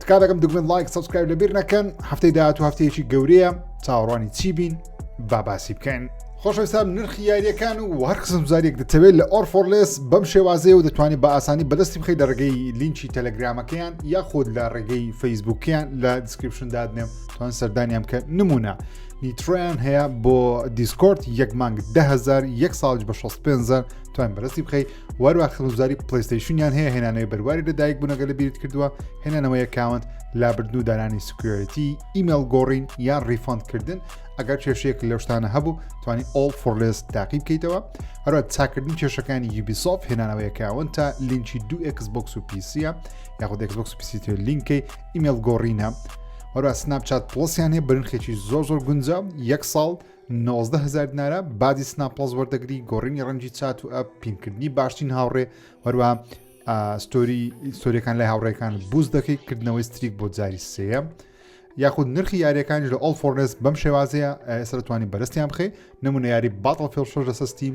تکا دەکەم دکمنت لایک سبسکرایب لەبیر نەکەن هەفتەی داهات و هەفتەیەکی گەورەیە چاوەڕوانی چی بین باباسی بکەین خۆشەویستان نرخی یاریەکان و هەر قسم زاریێک دەتەوێت لە ئۆرفۆرلس بەم شێوازەیە و دەتوانانی بە ئاسانی بەدەستی بخی لە ڕێگەی لینکی تەلەگرامەکەیان یا خۆت لە ڕێگەی فەیسبوکیان لە دیسکرپشن دادنێم توان سەردانیان کە نمونە نیترۆیان هەیە بۆ دیسکۆرت یەک مانگ دههزار یەک ساڵ بە 65 توان بەرەستی بخی وەروە خزمزاری پلیستەیشنیان هەیە هێنانەوەی بەرواری لە دایک بوونەگە لە بیرت کردووە هێنانەوەی کاونت لابردن و دانانی سکوێتی ئیمێل گۆڕین یان ڕیفۆندکردن ئەگەر کێشەیەک لەو شتانە هەبوو توانی ئۆڵ فۆرلێس تاقی بکەیتەوە هەروە چاکردنی کێشەکانی یوبیسۆف هێنانەوەی کاون تا لینکی دو ئەکسبکس و پیسیە یاخود ئەکسبکس پیسیتر لینکەی ئیمێل گۆڕینە هەروە سناپ چات پڵسیانێ برنخێکی زۆر زۆر گونجا یەک ساڵ نۆزدە هەزار دینارە بازی سنا پڵەس وەردەگری گۆڕینی ڕەنجی چات و ئەپ پینکردنی باشترین هاوڕێ هەروە ستۆری سۆریەکان لای هاوڕێکان بوز دەکەی کردنەوەی ستریک بۆ جاری سەیە یاخود نرخی یاریەکانش لە ئۆل فۆرنس بەم شێوازەیە ئێسرەتوانی بەرستیان بخەی نمونە یاری باتڵ فێڵشۆش لە سستیم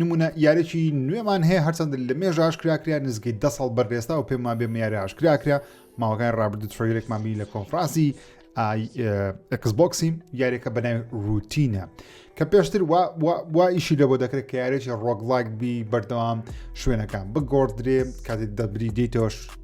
نمونە یارێکی نوێمان هەیە هەرچەند لە مێژە ئاشکرا کرا نزگەی دە ساڵ بەرێستا و پێم وابێ میارە ئاشکرا کرا ماوەکان ڕابردو تریلێکمان بینی لە کۆنفرانسی ئەکسبکسی یاریەکە بەنای روتینە کە پێشتر وا ئیشی لەوە دەکرێت کە یارێکی ڕۆگڵاک بی بەردەوام شوێنەکان بگۆڕدرێ کاتێک دەبری دیتەوەش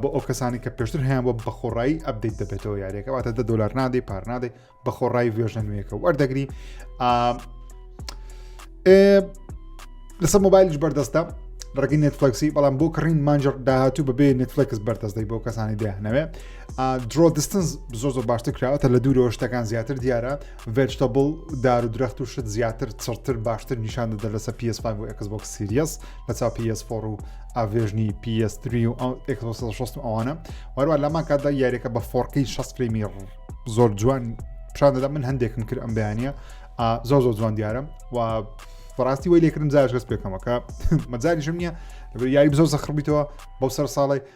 بۆ ئەو کەسانی کە پێشتر هەیان بۆ بەخۆڕایی ئەبدەیت دەبێتەوە یاریەکە واتە دە دلار نادەی پار نادەی بەخۆڕایی وێژە نوێەکە وەردەگری لەسەر مۆبایلش بەردەستە ڕگەی نێتفلکسی بەڵام بۆ کڕین مانجر داهاتوو بەبێ نێتفلکس بەردەستدەی بۆ کەسانی دەیانەوێ درۆ دستنس زۆ زۆر باشتر کراوەتە لە دوورەوە شتەکان زیاتر دیارە ڤێجتەبل دار و درەخت و شت زیاتر چڕتر باشتر نیشان دەدە لەسە PS5 بۆ ئەکس بۆک سیریەس بەچاو PS فۆڕ و ئاڤێژنی PS تری و ئەکسۆسەشت و ئەوانە وەروە لەمان کاتدا یاریەکە بە فۆڕقی 6 فلیمی زۆر جوان پیشان دەدا من هەندێکم کرد ئەم بەیانە زۆر زۆر جوان دیارم و بەڕاستی وی لێکردم جاش گەست پێکەمەکە مەجاریشم نییە لەبەر یاری بزۆ زەخڕبییتەوە بەو سەر ساڵی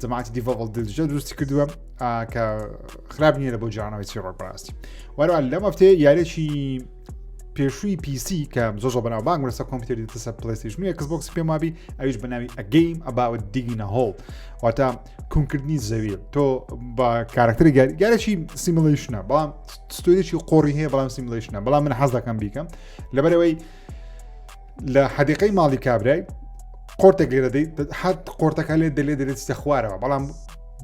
جەماعەتی دیڤۆڵ دلجە دروستی کردووە کە خراپ نییە لە بۆ جانەوەی چیڕۆک بەڕاستی وەرە لەم هەفتێ یارێکی پێشووی پیسی کە زۆ زۆ بەناو بانگ لەسە کۆمپیوتەری دەسە پلیستیش نیە کەس بۆکس پێم وابی ئەویش بەناوی ئەگەیم ئەباوە دیگینە هۆڵ واتە کونکردنی زەوی تۆ بە کارکتەری گارێکی سیملیشنە بەڵام ستۆریی قۆڕی هەیە بەڵام سیملیشنە بەڵام من حەز دەکەم بیکەم لەبەرەوەی لە حەدیقەی ماڵی کابرای قۆرتێک لێرە حەت قۆرتەکە لێ دەلێ دەێت چتە خوارەوە بەڵام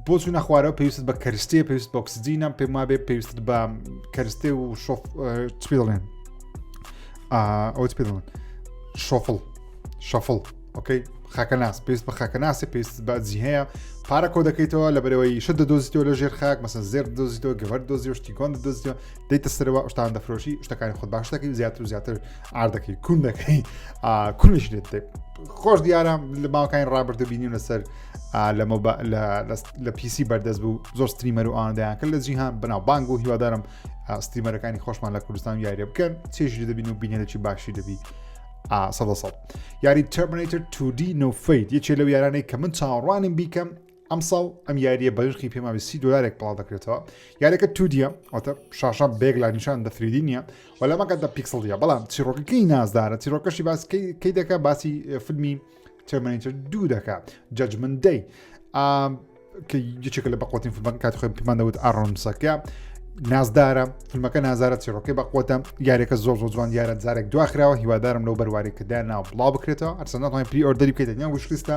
بۆ چوونە خوارەوە پێویست بە کەرستێ پێویست بۆکسجینە پێم وابێ پێویست بە کەرستێ و شۆف چپی دەڵێن ئەوت پێ دەڵێن شۆفڵ شەفڵ ئۆکەی خاکەناس پێست بە خاکەناسی پێست بەجی هەیە پارە کۆ دەکەیتەوە لە بەرەوەی شت دەدۆزیتەوە لە ژێر خاک مەسە زێر دۆزیتەوە گەوەر دۆزی و شتیگۆن دۆزیەوە دەیتە سەرەوە شتان دەفرۆشی شتەکانی خۆ باشەکەی زیاتر و زیاتر ئاردەکەی کون دەکەی کونش لێت خۆش دیارە لە باوکانی ڕابرد و بینیم لەسەر لەمە لە پیسی بەردەست بوو زۆر ستریمەر و ئاندەیان کرد لە جیهان بناو بانگ و هیوادارم ستریمەرەکانی خۆشمان لە کوردستان یاریە بکەن چێژی دەبین و بینێکی باشی دەبی سەد یاری تەرمنیتر 2D نوفیت یەکێ لەو یارانەی کە من چاوەڕوانیم بیکەم ئەمساڵ ئەم یاریە بەرخی پێماوی سی دلارێک پڵاو دەکرێتەوە یاریەکە تودیە واتە شاشە بێک لە نیشان دەفریدی نیە و لە مەکەدا پیکسڵە بەڵام چیرۆکەکەی نازدارە چیرۆکەشی باس کەی دەکە باسی فیلمی تێمەنیتر دوو دەکە جەجمن دەی کە یەکێکە لە بەقوتین فیلمەکە کات خۆی پێمان دەوت ئارۆنسەکە نازدارە فیلمەکە نازارە چیرۆکەی بەقوتە یاریەکە زۆر زۆ جوان یارە زارێک دواخراوە هیوادارم لەو بەروارێکەدا ناو بڵاو بکرێتەوە ئەرسەنەڵی پری ئۆردەری بکەیت نیان وشلیستە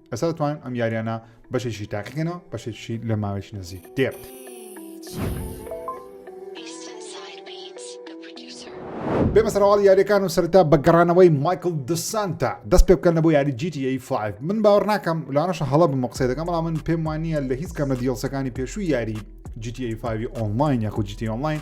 ئێستا دەتوانن ئەم یاریانە بەشێکی تاقیکەنەوە بەشێکی لە ماوەیەکی نزیک دێ. بێمە سەرواڵ یاریەکان و سەرتا بە گەڕانەوەی مایکل دسانتا دەست پێ بکەن لە بۆ یاری جیتی فاف من باوەڕ ناکەم لاەنەشە هەڵە بم قسە دەکەم بەڵام من پێم وانە لە هیچ کەم لە دیڵسەکانی پێشوو یاری جیتی فاوی ئۆنلاین یاخود جیتی ئۆنلاین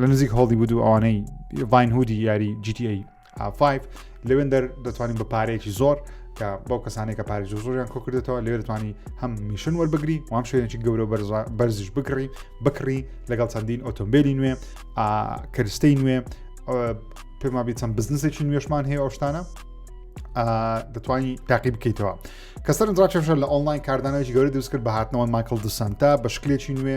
لە نزیک هەڵدی بود و ئەوانەی ڤین هودی یاری GTA 5 لەوێن دەر دەتوانین بە پارەیەکی زۆر کە بەو کەسانێک کە پارێژ زۆریان کۆکردێتەوە لێ دەتوانانی هەم میشن وەربگری وام شوێنێکی گەورە بەرزش بکڕی بکڕی لەگەڵ چەندین ئۆتۆمبیلی نوێ کەرستەی نوێ پێما بی چەند بزنسێکی نوێشمان هەیە ئەوشتانە دەتوانانی تاقی بکەیتەوە کەسەر درا چێشە لە ئۆنلاین کاردانەوەی گەوری دروست کرد بە هاتنەوە ماکل دسانتا بە شکلێکی نوێ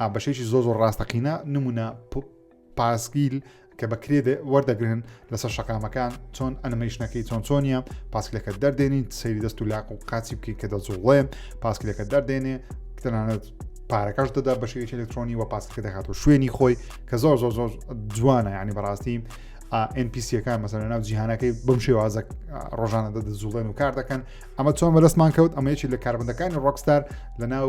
ئا بەشێکی زۆ زۆر ڕاستەقینە نمونە پاسگیل کە بە کرێ وەردەگرن لەسەر شەقامەکان چۆن ئەنمەیشنەکەی چۆن چۆنیە پاسکلەکە دەردێنین سەیری دەست و لاق و قاچی بکەین کە دەزوڵێن پاسکلەکە دەردێنێ تەنانەت پارەکەش دەدا بە شێوەی ئەلکترۆنی و پاسکە دەکات و شوێنی خۆی کە زۆر زۆر زۆر جوانە ینی بەڕاستی NPCەکان مەسەر ناو جیهانەکەی بم شێوازە ڕۆژانە دەدەزوڵێن و کار دەکەن ئەمە چۆن بەدەستمان کەوت ئەمەیەکی لە کاربندەکانی ڕۆکستار لە ناو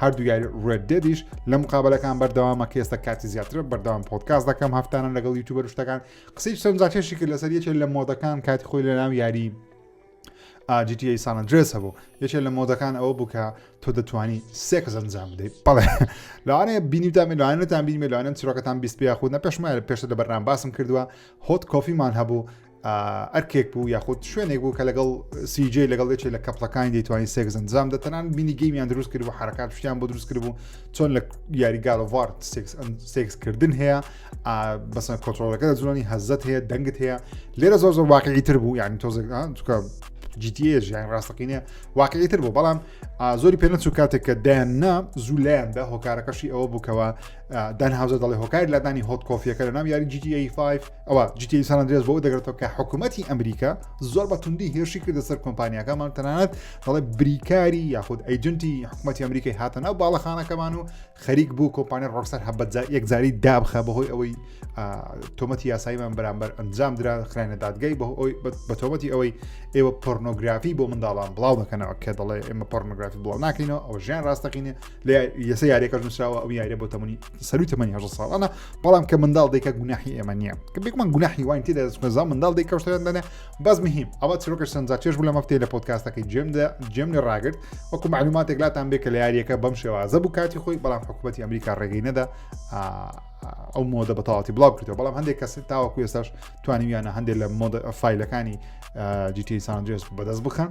هەردوو یاری ڕێت دێدیش لە مقابلەکان بەردەوامە کە ئێستا کاتی زیاتر بەردەوام پۆتکاس دەکەم هەفتانە لەگەڵ یوتوبە شتەکان قسەی چەند جاکێشی کرد لەسەر یەکێک لە مۆدەکان کاتی خۆی لە ناو یاری ئاجیتی سانە درێس هەبوو یەکێک لە مۆدەکان ئەوە بوو کە تۆ دەتوانی سێک زەنجام بدەیت بەڵێ لەوانەیە بینیتان لەوانەتان بینی لەوانن چرۆکەتان بیست پێ خودە پێشمە پێشتە لە بەرنام باسم کردووە هۆت کۆفیمان هەبوو ئەرکێک بوو یاخود شوێنێک بوو کە لەگەڵ سیجێ لەگەڵ دەچێت لە کەپلەکانی دەیتوانین سێکزن زام دەتەنان بینی گەیمیان دروست کرد بۆ حرکات شتیان بۆ دروست کرد بوو چۆن لە یاری گالڤار سێکسکردن هەیە بەسەر کۆتۆلەکە لە زۆنی هەزت هەیە دەنگت هەیە لێرە زۆر زۆر واقعی تر بوو یعنی تۆزێک چکە جیتیێژ یان ڕاستەقینە واقعی تر بوو بەڵام زۆری پێ نەچوو کاتێک کە دایان نا زوو لایەندا هۆکارەکەشی ئەوە بووکەوە دان هاوزە دەڵێ هۆکاری لادانی هۆت کۆفیەکە لە نام یاری جیتی 5 ئەوا جیتیی سان ئەندرێس بۆ ئەوە دەگرێتەوە کە حکوومەتی ئەمریکا زۆر بە توندی هێرشی کردە سەر کۆمپانیاکەمان تەنانەت دەڵێ بریکاری یاخود ئەیجنتی حکوومەتی ئەمریکای هاتە ناو باڵەخانەکەمان و خەریک بوو کۆمپانیا ڕۆکسەر هەبەت یەکجاری دابخە بەهۆی ئەوەی تۆمەتی یاساییمان بەرامبەر ئەنجام درا خراینە دادگای بە ئەوی بە تۆمەتی ئەوەی ئێوە پۆرنۆگرافی بۆ منداڵان بڵاو دەکەنەوە کە دەڵێ ئێمە پۆرنۆگرافی بڵاو ناکەینەوە ئەو ژیان ڕاستەقینە لە یەسە یاریەکەش نووسراوە ئەو یاریە بۆ تەمەنی سەروی تەمەنی هەژە ساڵانە بەڵام کە منداڵ دێکە گوناحی ئێمە نییە کە بێکمان گوناحی وان تێدا دەستخێزان منداڵ دێک کەشتیان دەنێ بەس مهم ئەوە چرۆکە سەنجا چێش بوو لە مەفتەی لە پۆتکاستەکەی جێمدا جێم لە ڕاگرت وەکو معلوماتێک لاتان بێ کە لە یاریەکە بەم شێوازە بوو کاتی خۆی بەڵام حکوومەتتی ئەمریکا ڕێگەی نەدا ئەو مۆدە بەتەواتی بڵاو کردەوە بەڵام هەندێک کەسی تاوەکو ێستاش توانیویانە هەندێک لە مۆدە فیلەکانی جیتی سانجێس بەدەست بخەن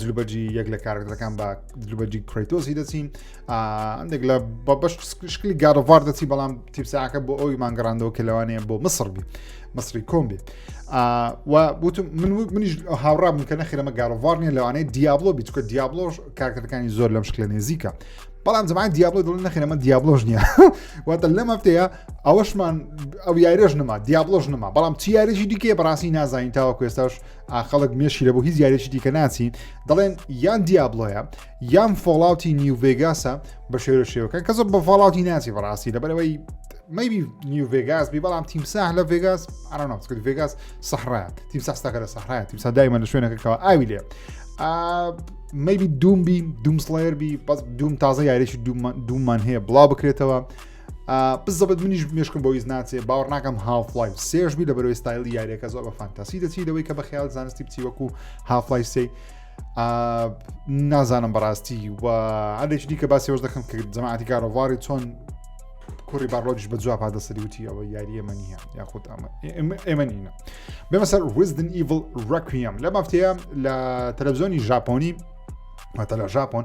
دلوبەرجی یەک لە کارکتەکان بە دلوبەرجی کرێتۆسی دەچین ئەندێک لە بە بەش شکلی گارڤار دەچی بەڵام تیپساکە بۆ ئەوی مانگەڕاندەوە کە لەوانەیە بۆ مسڕ بی مەسری کۆم بێت وتم من منیش هاوڕا بوون کە نەخیرەمە گارڤار نیە لەوانەیە دیابلۆ بی چکە دیابلۆش کارکتەکانی زۆر لەم شکلە نێزیکە بەڵام زمان دیابلۆ دڵ نەخیرەمە دیابلۆش نییە واتە لەم هەفتەیە ئەوەشمان ئەو یاریش نما دیابلۆش نما بەڵام چی یاریشی دیکە بەڕاستی نازانین تاوە کوێستاش ئاخەڵک مێشی لە بۆ هیچ یاریێکی دیکە ناچین دەڵێن یان دیابلۆیە یان فۆڵاوتی نیوڤێگاسە بە شێرە شێوەکان کە زۆر بە فاڵاوتی ناچی بەڕاستی لەبەرەوەی مەبی نیو ڤێگاس بی بەڵام تیمساح لە ڤێگاس ئارانۆسکرد ڤێگاس سەحرا تیمساستاکە لە سەحرا تیمسا دایمە لە شوێنەکەەوە ئاوی لێ مەبی دوم بی دومسڵێر بی بەس دوم تازە یاریێکی دومان هەیە بڵاو بکرێتەوە بزەبت منیش مشکم بۆیز ناچێ باوەڕ ناکەم هافلای سێش بی لە بەرەوەی ستایلی یاریەکە زۆر بە فانتاسی دەچی لەوەی کە بە خیال زانستی بچی وەکو هافلای سێ نازانم بەڕاستی و ئەلێکی دیکە باسیەوەش دەکەم کە جەماعاتی کارۆڤاری چۆن کوڕی باڕۆژ بە جواب پادەسەری وتی ئەوە یاریە منیە یاخود ئەمە ئێمە نینە بێمە سەر وزدن ئیڤڵ ڕکویم لە مافتەیە لە تەلەڤزیۆنی ژاپۆنی مەتەلا ژاپۆن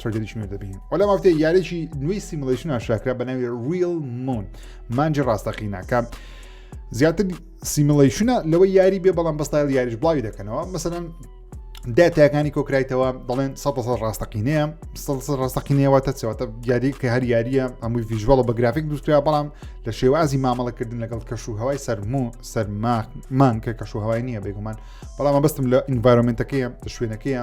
ترێدەریش نوێ دەبین و لە مافتەیە یارێکی نوێی سیملشن ئاشاکرا بە ناوی ریل مون مانجی ڕاستەقینەکە زیاتر سیملشنە لەوە یاری بێ بەڵام بەستایل یاریش بڵاوی دەکەنەوە مەسەن داتاکانی کۆکرایتەوە دەڵێن 100 ڕاستەقینەیە ڕاستەقینەوە تەچەوەتە یاری کە هەر یاریە ئەمووی ڤژوەڵە بە گرافیک دوسترا بەڵام لە شێوازی مامەڵەکردن لەگەڵ کەش و هەوای سەرمو سەرمامان کە کەش و هەوای نییە بێگومان بەڵام بەستم لە ئینڤایرۆمنتەکەیە شوێنەکەیە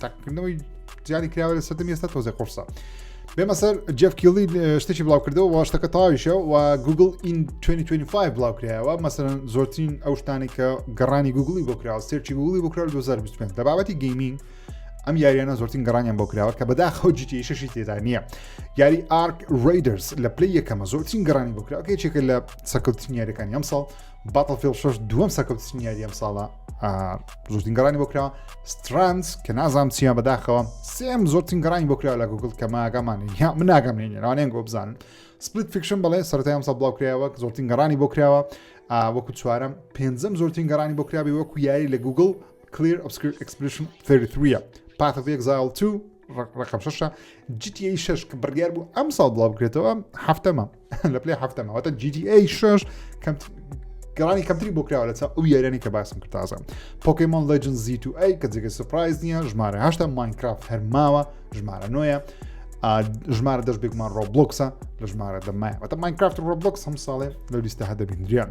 تاکردنەوەی جیانی کراوە لە سەردەم ئێستا تۆزێ قڕسە بێمە سەر جف کیڵی شتێکی بڵاوکردەوە وە شتەکە تاویشە و گوگل ئین 2025 بڵاوکرایەوە مەسەرەن زۆرترین ئەو شتانی کە گەڕانی گوگلی بۆ کراوە سێرچی گوگلی بۆ کرا 2025 لە بابەتی گەیمینگ ئەم یاریانە زۆرترین گەڕانیان بۆ کراوە کە بەدا خەوجیتی شەشی تێدا نییە یاری ئارک ڕیدرس لە پلی یەکەمە زۆرترین گەڕانی بۆ کراوە یەکێکە لە سەکەوتترین یاریەکانی ئەم ساڵ باتڵفیڵ شەش دووەم سەرکەوتنی یاری ئەم ساڵە زۆرترین گەڕانی بۆ کراوە سترانس کە نازام چیان بەداخەوە سێم زۆرترین گەڕانی بۆ کراوە لە گوگل کە ماگەمان یا من ناگەم نێنێراوانێن گۆ بزانن سپلیت فیکشن بڵێ سەرەتای ئەم سە بڵاو کراوە زۆرترین گەڕانی بۆ کراوە وەکو چوارم پێنجەم زۆرترین گەڕانی بۆ کراوی وەکو یاری لە گوگل کلیر ئۆسکر ئەکسپریشن 33 پاتەک زاڵ 2 ڕقم شەشە GTA 6 کە بڕیار بوو ئەم ساڵ بڵاو بکرێتەوە هەفتەمە لە پلی هەفتەمەوەتە GTA 6 کەم گەڕانی کەمتری بۆ کراوە لەچ ئەو یارانی کە باسم کرد تازە پۆکیمۆن لەجن زی تو ئەی کە جگە سپرایز نییە ژمارە هەشتا ماینکراف هەرماوە ژمارە نوۆیە ژمارە دەست بێکمان ڕۆبلۆکسە لە ژمارە دەمایە بەتە ماینکرافت ڕۆبلۆکس هەم ساڵێ لە لیستە هەدەبیندریان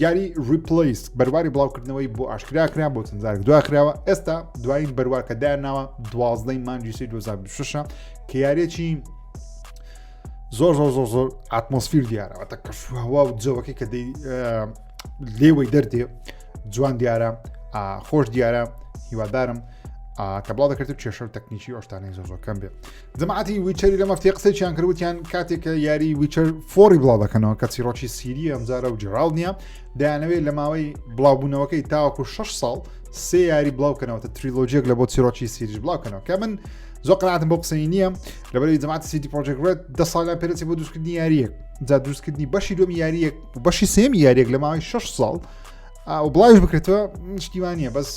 یاری ریپلیس بەرواری بڵاوکردنەوەی بۆ ئاشکرا کرا بۆ چەندزار دوا کراوە ئێستا دوایین بەروارکە داناوە دوازدەی مانجی سی 2026 کە یارێکی زۆر زۆر زۆر زۆر ئاتمۆسفیر دیارەوە تە کەشوهوا و جەوەکەی کە دەی لێوەی دەردێ جوان دیارە خۆش دیارە هیوادارم کە بڵاو دەکرێت و کێشە و تەکنیکی ئۆشتانی زۆزۆکەم بێت جەماعەتی ویچەری لە مەفتێ قسەیان کرد وتیان کاتێک کە یاری ویچەر فۆری بڵاو دەکەنەوە کە چیرۆکی سیری ئەمجارە و جیڕاڵ نییە دەیانەوێت لە ماوەی بڵاوبوونەوەکەی تاوەکو 6 ساڵ سێ یاری بڵاوکەنەوەتە تریلۆجیەک لە بۆ چیرۆکی سیریش بڵاوکەنەوە کە من زۆ قناتم بۆ قسەی نییە لەبەری جماعات سیتی پرۆژێکرێت دە ساڵیان پێرەچی بۆ دروستکردنی یاریەک جا دروستکردنی بەشی دومی یاریەک و بەشی سێمی یاریەک لە ماوەی 6 ساڵ و بڵاوش بکرێتەوە شتیوانە بەس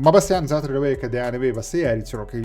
مەبەستیان زیاتر لەوەیە کە دەیانەوێ بە سێ یاری چڕۆکەی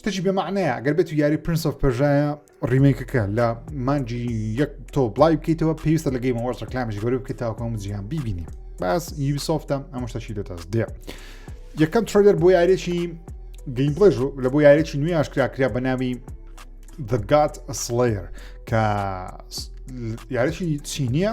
شتەکی بێ معنەیە ئەگەر بێت و یاری پرنس of پرژایە ڕیمێکەکە لە مانجی یەک تۆ بڵای بکەیتەوە پێویستە لە گەیمەوە ڕکلامش گەورە بکەیتەوەکەم جیان ببینی باس یوبیسۆفتە ئەمە شتەکی لە دەست دێ یەکەم ترۆلەر بۆ یارێکی گەیمپڵێژ لە بۆ یارێکی نوێ ئاشکرا کرا بە ناوی The God Slayer کە یارێکی چینیە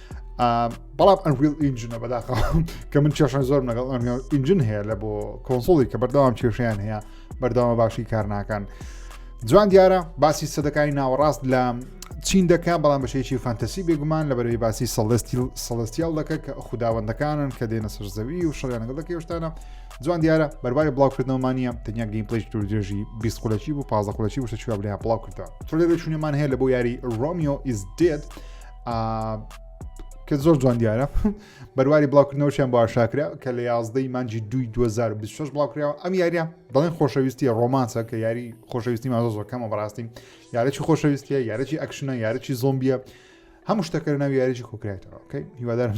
بەڵام ئەنویل ئینجنە بەداخە کە من چێشن زۆر لەگەڵ ئینجن هەیە لە بۆ کۆنسۆڵی کە بەردەوام کێشیان هەیە بەردەوامە باشی کار ناکەن جوان دیارە باسی سەدەکانی ناوەڕاست لە چین دەکە بەڵام بەشێکی فانتەسی بێگومان لە بەرەی باسی سەڵستیل سەڵستیال دەکە کە خودداوەندەکانن کە دێنە سەر زەوی و شەڵیانەگە دەکە شتانە جوان دیارە بەرباری بڵاوکردنەوەمانە تەنیا گەین پلیش دوور درێژی بیست قولەکی و پازە قولەکی وشە چوابلیان بڵاو کردەوە تۆ لێ چونێمان هەیە لە بۆ یاری ڕۆمیۆ ئیس دێت کە زۆر جوان دیارە بەرواری بڵاوکردنەوەشیان بۆ شاکرا کە لە یازدەی مانجی دوی 2026 بڵاوکراوە ئەم یاریە بەڵێن خۆشەویستی ڕۆمانسە کە یاری خۆشەویستی مازۆ زۆر کەمە بەڕاستی یارەی خۆشەویستیە یارەی ئەکشنە یارەی زۆمبیە هەموو شتەکە ناوی یاریی کۆکرێتەوە کەی هیوادارم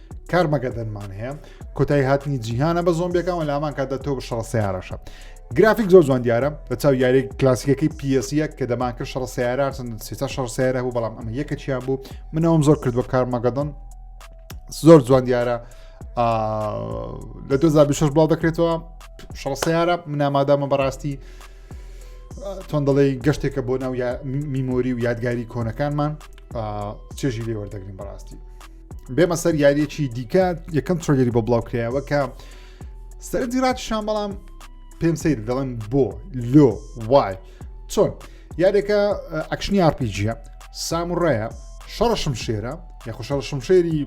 کارمەگەدەنمان هەیە کۆتایی هاتنی جیهانە بە زۆمبیەکان و لامان کاتدا تۆ بە شەڕ سیارەشە گرافیک زۆر جوان دیارە لە چاو یاری کلاسیکەکەی پیسیە کە دەمان کرد شەڕ سیارارتن سێتا شەڕ سیارە بوو بەڵام ئەمە یەکە چیان بوو منەوەم زۆر کردوە کارمەگەدن زۆر جوان دیارە لە 2026 بڵاو دەکرێتەوە شەڕ سیارە منامادامە بەڕاستی تۆن دەڵێ گەشتێکە بۆ ناو میمۆری و یادگاری کۆنەکانمان چێژی لێوەردەگرین بەڕاستی بێمە سەر یاریەکی دیکە یەکەم ترۆگەری بۆ بڵاو کرایەوە کە سەر دیرات شان بەڵام پێم سیر دەڵێن بۆ لۆ وای چۆن یادێکە ئەکشنی ئارپیجیە ساموڕایە شەڕشم شێرە یاخۆ شەڕشم شێری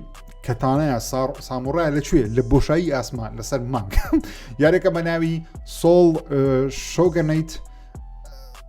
کەتانەیە ساڕ ساموڕای لەکوێ لە بۆشایی ئاسمان لەسەر مانگ یارێکە بە ناوی سۆڵ شۆگەنیت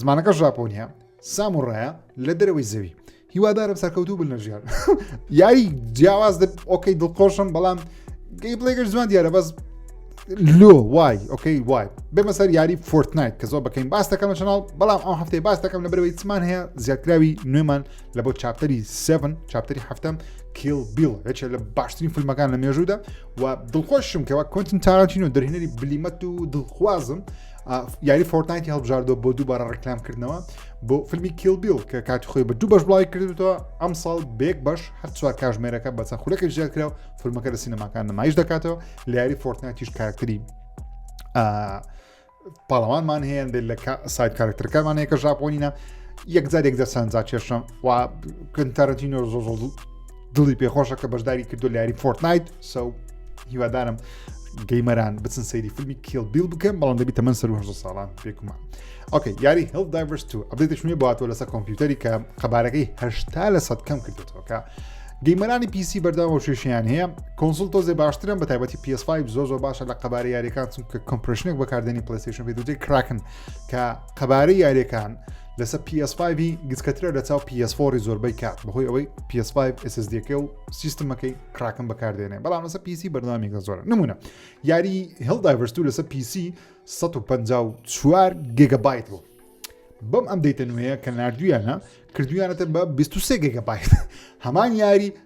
زمانەکە ژاپۆنیە ساموڕایە لە دەرەوەی زەوی هیوادارم سەرکەوتوو بن لە ژیان یاری جیاواز ئۆکەی دڵخۆشم بەڵام گەی بڵێگەر زمان دیارە بەس لۆ وای ئۆکەی وای بێمە سەر یاری فۆرتنایت کە زۆر بەکەین باس دەکەم چناڵ بەڵام ئەو هەفتەی باس دەکەم لە برەوەی چمان هەیە زیاتراوی نوێمان لە بۆ چاپتەری 7 چاپتەری هەفتم کیل بیل یەکێ لە باشترین فیلمەکان لە مێژوودا و دڵخۆشم کەەوە کۆنتن تارانچین و دەرهێنەری بلیمەت و دڵخوازم یاری فۆرتنایتی هەڵبژاردووە بۆ دووبارە ڕکلام کردنەوە بۆ فیلمی کیلبیل کە کاتی خۆی بە دوو بەش بڵای کردوەوە ئەم ساڵ بێک بەش هەر چوار کاژمێرەکە بە چەند خولەکە زیاد کرا و فیلمەکە لە سینەماکان نمایش دەکاتەوە لە یاری فۆرتنایتیش کارکتری پاڵەوانمان هەیە بێت لە سایت کارکتەرەکەمان هەیە کە ژاپۆنینە یەکجار یەک دەسەنجا کێشم و کنتەرەتینۆ زۆ زۆ دڵی پێخۆشە کە بەشداری کردو لە یاری فۆرتنایت سەو هیوادارم گەیمەران بچن سەیری فیلمی کیل بیل بکەن بەڵام دەبی تەمەەن سەر هەزار ساڵان پێکمان ئۆکەی یاری هەڵ دایڤرس تو ئەبێتش نوێ باتەوە لەسەر کۆمپیوتەری کە قەبارەکەی هەشتا لە سەد کەم کردێتەوە کە گەیمەرانی پیسی بەرداوە شێشیان هەیە کۆنسول تۆزێ باشترم بە تایبەتی PS5 زۆ زۆ باشە لە قەبارە یاریەکان چونکە کۆمپرشنێک بەکاردێنی پلیسیشن پێ دوجێ کراکن کە قەبارەی یاریەکان لەسەر PS5 هی گچکەترە لە چاو PS4ی زۆربەی کات بەهۆی ئەوەی PS5 SSDەکە و سیستمەکەی کراکم بەکاردێنێ بەڵام لەسەر PC بەردەوامی گە زۆرە نمونە یاری هێڵ دایڤرستو لەسەر PC 154 گگەبایت بوو بەم ئەم دەیتە نوێیە کە نردویانە کردویانەتە بە 23 گگەبایت هەمان یاری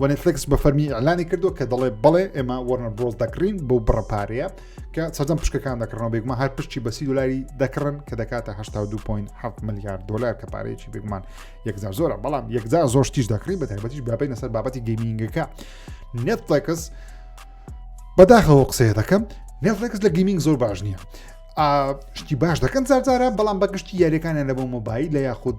وە نێتفلێکس بە فەرمی ئیعلانی کردووە کە دەڵێ بەڵێ ئێمە وەرنەر برۆس دەکڕین بەو بڕە پارەیە کە سەردەم پشکەکان دەکڕنەوە بێگومان هەر پشتی بە سی دلاری دەکڕن کە دەکاتە 19.7 ملیار دلار کە پارەیەکی بێگومان یەکجار زۆرە بەڵام یەکجار زۆر تیش دەکڕی بە تایبەتیش بابینە سەر بابەتی گەیمینگەکە نێتفلێکس بەداخەوە قسەیە دەکەم نێتفلێکس لە گەیمینگ زۆر باش نییە شتی باش دەکەن زارزارە بەڵام بەگشتی یاریەکانیان لە بۆ مۆبایل لە یاخود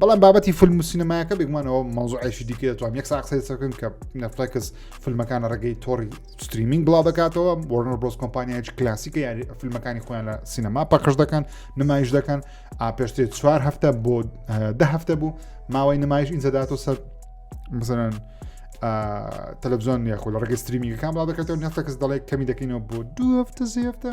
بەڵام بابەتی فیلم و سینەمایەکە بگومانەوە مەوزوعێکی دیکە دەتوان یەک ساقسی سەکەن کە نەفلکس فیلمەکانە ڕێگەی تۆری ستریمینگ بڵاو دەکاتەوە وەرنەر برۆس کۆمپانیایج کلاسیکە یاری فیلمەکانی خۆیان لە سینەما پەخش دەکەن نمایش دەکەن ئاپێشتێ چوار هەفتە بۆ ده هەفتە بوو ماوەی نمایش ئینجەداتۆ سەر مثلەن تەلەبزۆن یاخۆ لە ڕێگەی ستریمینگەکان بڵاو دەکاتەوە نەفلکس دەڵێت کەمی دەکەینەوە بۆ دوو هەفتە زیێفتە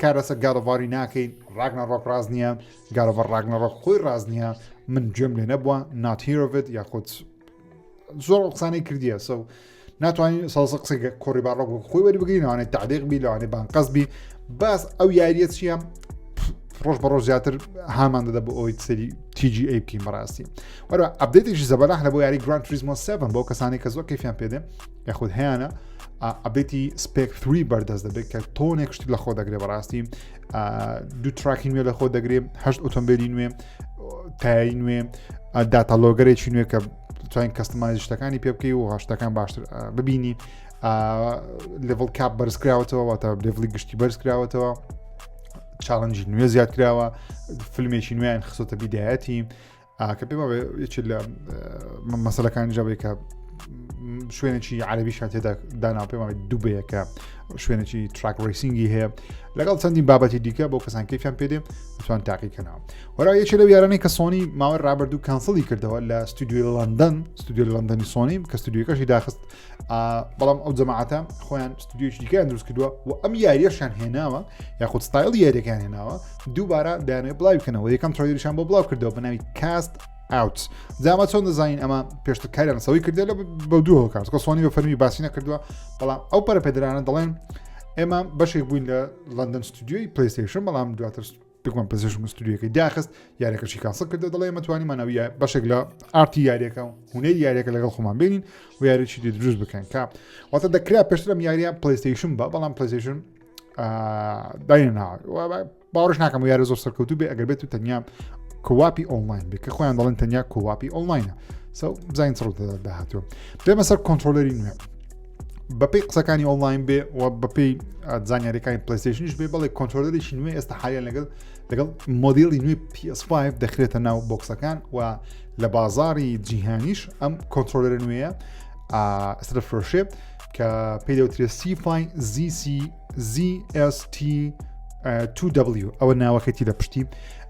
کار لەسەر گاڵۆڤاری ناکەین ڕاگنە ڕۆک ڕاز نییە گاڵۆڤەر ڕاگنە ڕۆک خۆی ڕاز نییە من گوێم لێ نەبووە ناتیرۆڤێت یاخود زۆر قسانەی کردیە سە و ناتوانین سەڵسە قسە کۆڕی باڕۆک خۆی وەری بگرین لەوانێ تعلیق بی لەوانێ بانقەز بی باس ئەو یاریە چییە ڕۆژ بە ڕۆژ زیاتر هامان دەدە بۆ ئەوی سەری تیجی ئەی بکەین بەڕاستی وەرە ئەبدێتێکی زەبەلاح لە بۆ یاری گران تریزمۆ 7 بۆ کەسانی کە زۆر کەفیان پێدێ یاخود هەیەە ئەبێتی سپێک 3 بەردەست دەبێت کە تۆنێک شتی لە خۆ دەگرێ بەڕاستی دوو تراکی نوێ لە خۆ دەگرێ هەشت ئۆتۆمبیلی نوێ تایی نوێ داتەلۆگەرێکی نوێ کە توانین کەستمانی شتەکانی پێ بکەی و هەشتەکان باشتر ببینی لڤڵ کاپ بەرزکراوەتەوە واتە لڤڵی گشتی بەرزکراوەتەوە چاڵنجی نوێ زیاد کراوە فیلمێکی نوێیان خسۆتە بیدایەتی کە پێم وایە یەکێک لە مەسەلەکانی جاوی کە شوێنێکی عربیشان تێدا دانا پێم وایە دوبەیەکە شوێنێکی تراک ڕیسینگی هەیە لەگەڵ چەندین بابەتی دیکە بۆ کەسان کەفیان پێدێ توان تاقیکەنەوە وەرا یەکێ لەو یارانەی کە سۆنی ماوەی ڕابردوو کەنسڵی کردەوە لە ستودیۆ لەندەن ستودیۆ لەندەنی سۆنی کە ستودیوکەشی داخست بەڵام ئەو جەماعاتە خۆیان ستودیوش دیکەیان دروست کردووە و ئەم یاریەشان هێناوە یاخود ستایل یاریەکان هێناوە دووبارە دایانێ بڵاو بکەنەوە یەکەم تڕۆیریشان بۆ بڵاو کردەوە بە ناوی کاست ئاوت جاما چۆن دەزانین ئەمە پێشتە کاریان سەوی کردێت لە بە دووەوە کات کەسوانی بە فەرمی باسی نەکردووە بەڵام ئەو پەرپێدرانە دەڵێن ئێمە بەشێک بووین لە لەندەن ستودیوی پلیستیشن بەڵام دواتر دکمان پزیشم مستریەکەی داخست یارەکەشی کاسڵ کردە دەڵێ مەتوانی مانەویە بەشێک لە ئارتی یاریەکە و هوەی یاریەکە لەگەڵ خۆمان بینین و یاریی دی دروست بکەن کا واتە دەکرا پێشترم یاریە پلیستیشن بە بەڵام پلیستیشن دانا باوەش ناکەم و یارە زۆر سەرکەوتو بێ ئەگەر بێت و تەنیا کواپی ئۆنلاین بێ کە خۆیان دەڵێن تەنیا کواپی ئۆنلاینە سەو بزانین سڕ داهاتوە بێمە سەر کۆنتترۆلەری نوێ بەپی قسەکانی ئۆنلاین بێ و بەپی زانیاریەکانی پلیستشنش بێ بڵێ کۆنتۆلەرێکی نوێ ئێستا حالیان لەگەڵ لەگەڵ مۆدیڵی نوێ PS5 دەخرێتە ناو بۆکسەکان و لە بازاری جیهانیش ئەم کۆنتۆلەر نوێە ئەسرە فرۆشێ کە پێدەوترێ سیفاین زیC ZST 2W ئەوە ناوەکەتی لە پشتی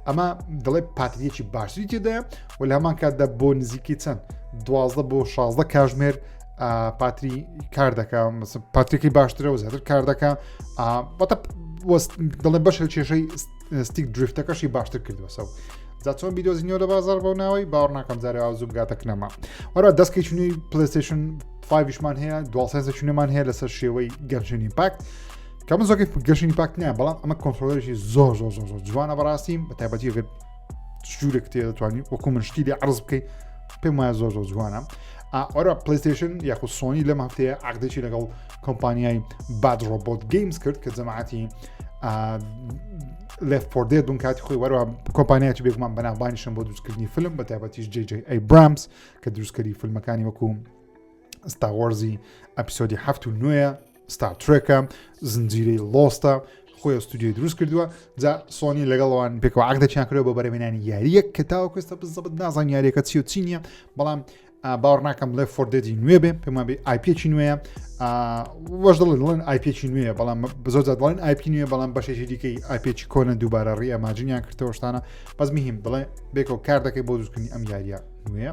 ئەمە دەڵێ پاتریەکی باشتری تێدایە و لە هەمان کاتدا بۆ نزیکی چەند دوازدە بۆ 16 کاژمێر پاتری کار دەکە پاتریکی باشترە و زیاتر کار دەکە بەتە دڵێ بەش کێشەی ستیک دریفتەکەشی باشتر کردوەسە و جا چۆن بیدۆزینەوە لە بازار بۆ ناوەی باوەڕ ناکەم جارێ ئازوو بگاتە کنەما وەرە دەستکی چنی پلیستشن فایشمان هەیە دوسێنسە چونەمان هەیە لەسەر شێوەی گەنجنی پاک کە من زۆکی گەشتنی پاک نیە بەڵام ئەمە کۆنتترۆلێکی زۆر زۆر زۆر زۆر جوانە بەڕاستی بە تایبەتی گرت جوورێک تێ دەتوانانی وەکو من شتی لێ عرز بکەیت پێم وایە زۆر زۆر جوانە ئەرا پلیستشن یاخو سۆنی لەم هەفتەیە عقدێکی لەگەڵ کۆمپانیای باد ڕۆبۆت گەیمز کرد کە جەماعاتی لێف پۆردێت بوون کاتی خۆی وەرەوە کۆمپانیاتی بێگومان بەناوبانیشم بۆ دروستکردنی فیلم بە تایبەتیش جێجێ ئەی برامس کە دروستکەری فیلمەکانی وەکو ستاوەرزی ئەپیسۆدی هەفت و نوێە ستار ترێکە زنجیرەی لۆستە خۆی ئەستودیۆی دروست کردووە جا سۆنی لەگەڵەوان پێکەوە عقدەچیان کرەوە بە بەرەمێنانی یاریەک کە تاوەکوێستە بزەبت نازان یاریەکە چی و چی نییە بەڵام باوەڕ ناکەم لێ فۆردێجی نوێ بێ پێمان بێ ئایپێکی نوێە وەش دڵێن دڵێن ئایپێکی نوێە بەڵام بزۆ دڵێن ئایپی نوێ بەڵام بەشێکی دیکەی ئایپێکی کۆنە دووبارە ڕی ئەماجنیان کردەوەشتانە بەس مهم بڵێ بێکەوە کار دەکەی بۆ دروستکردنی ئەم یاریە نوێە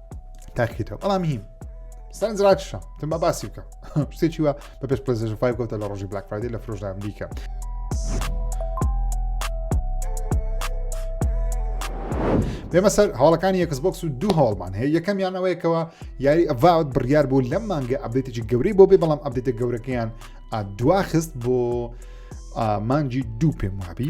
تاکیتەوە بەڵام هیم سەرنجڕاکیشە تم بە باسی بکەم شتێکی وە بە پێش پلزژ فای گوتە لە ڕۆژی بلاک فرایدی لە فرۆژدا ئەمریکا بێمە سەر هەواڵەکانی یەکس بۆکس و دوو هەواڵمان هەیە یەکەم یانەوەیەکەوە یاری ئەڤاوت بڕیار بوو لەم مانگە ئەبێتێکی گەورەی بۆ بێ بەڵام ئەبێتە گەورەکەیان دواخست بۆ مانجی دوو پێم وابی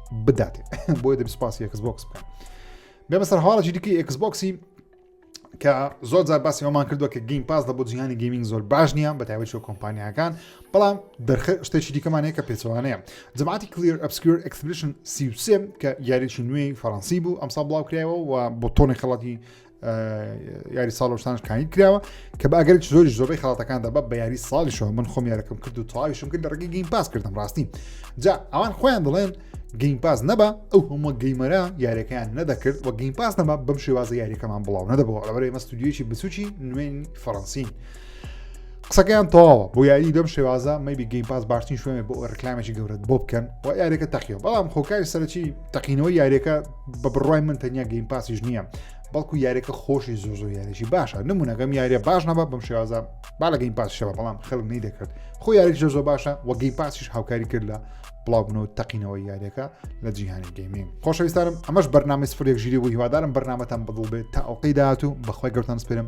بداتێ بۆیە دەبی سپاسی ئەکس بۆکس بکەم بێمە سەر هەواڵێکی دیکەی ئەکس بۆکسی کە زۆر زار باسی ئەومان کردووە کە گەیم پاس لە بۆ جیهانی گەیمنگ زۆر باش نییە بە تایبەت کۆمپانیاکان بەڵام دەرخ شتێکی دیکەمانەیە کە پێچوانەیە جماعتی کلیر ئەبسکر ئەکسپلیشن سیوسێ کە یاریی نوێی فەڕەنسی بوو ئەمسا بڵاو کرایەوە و بۆ تۆنی خەڵاتی یاری ساڵ شتان کاین کراوە کە بە ئەگەر زۆری زۆری خڵاتەکان دەبە بە یاری ساڵیشەوە من خۆم یارەکەم کرد و تاویشم کرد لە ڕگەی گەین پاس کردم ڕاستی جا ئەوان خۆیان دەڵێن گەین پاس نەبە ئەو هەموو گەیمەرە یاریەکەیان نەدەکرد و گەین پاس نەبە بەم شێوازە یاریەکەمان بڵاو نەدەبەوە ئەوەێ مەستودیویی بچوکی نوێن فەڕەنسین قسەکەیان تەواوە بۆ یاری بەم شێوازە مەبی گەیم پاس باشترین شوێنێ بۆ ڕکلامێکی گەورەت بۆ بکەن و یارێکە تەقیەوە بەڵام خۆکاری سەرەکی تەقینەوە یارێکە بە بڕای من تەنیا گەیم پاسیش نییە بەڵکو یارێکە خۆشی زۆ زۆ یاریی باشە نمونونەکەم یاریە باش نەبە بەم شێوازە با لە گەیم پاس شەوە بەڵام خەڵک نەی دەکرد خۆ یاریک زۆ زۆ باشە وە گەیم پاسیش هاوکاری کرد لە بڵاوبنەوە تەقینەوە یاریەکە لە جیهانی گەیمین خۆشەویستانم ئەمەش بەرنامی سفرێک ژیری بوو هیوادارم بەرنامەتان بەدڵ بێت تا ئەوقەی داات و بەخوای گەوتان سپێرم